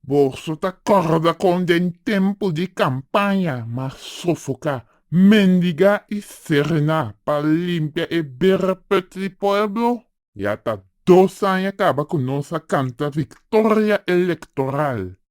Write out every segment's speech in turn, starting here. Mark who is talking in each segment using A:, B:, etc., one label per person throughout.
A: Boso ta corda con den tempo di campaña m'a sofoca, mendiga y serena pa limpia e bereput di pueblo? Ya ta dos aña caba cu nos a canta victoria electoral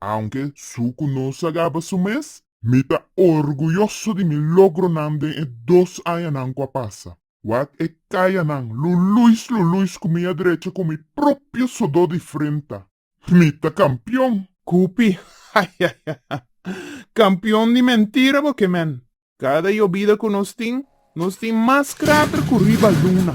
A: Aunke su ku no sagaba su mes, mi ta orguyoso di mi logronan den e dos añanan ku a pasa. Wak e kayanan luluis luluis ku mi a drecha ku mi propio sodó di frenta. Mi ta kampion! Kupi, Hahaha! Kampion di mentira bo ke, men! Kada yobida ku nos tin, nos tin mas krater ku riba luna.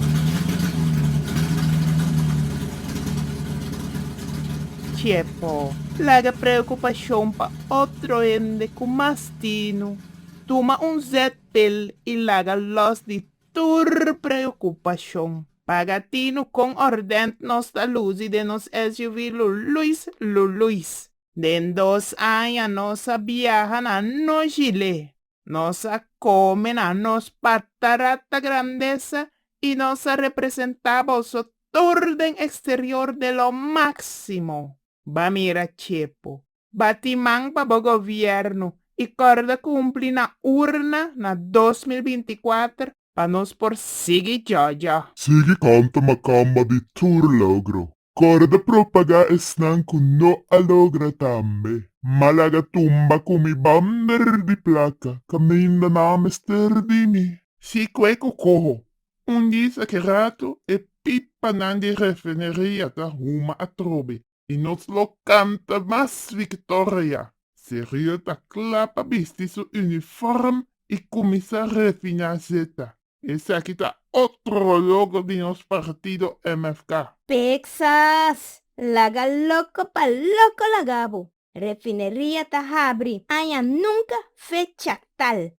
A: Dje pò, laga preokupashon pa otro hende ku mas tinu. Tuma un zètpil i laga lòs di tur preokupashon. Paga tinu kon òrdènt nos ta lusi den nos SUV luluis luluis. Den dos aña nos a biaha na Nojile, nos a come na nos patarata grandesa y nos a representa boso tur den exterior de lo maximo. Ba mira Chepo, ba tin man pa bo gobierno y corda cumpli na urna na dos mil binti kuater Pa nos por sigui djadja. Sigui canta macamba di tur logro. Corda propaga esnan cu no a logra tambe. Malaga tumba cu mi bander di placa. Caminda na mester di mi. Si cueco coho. Un dis aki rato e pipanan di refineria ta huma atrobe. y nos lo canta mas victoria. Sergio ta cla pa bisti su uniform y cuminsa refina zeta. Esaki ta otro logo di nos partido MFK. Texas! Laga loco pa loco lagabo! Refineria ta habri aña nunca fecha tal.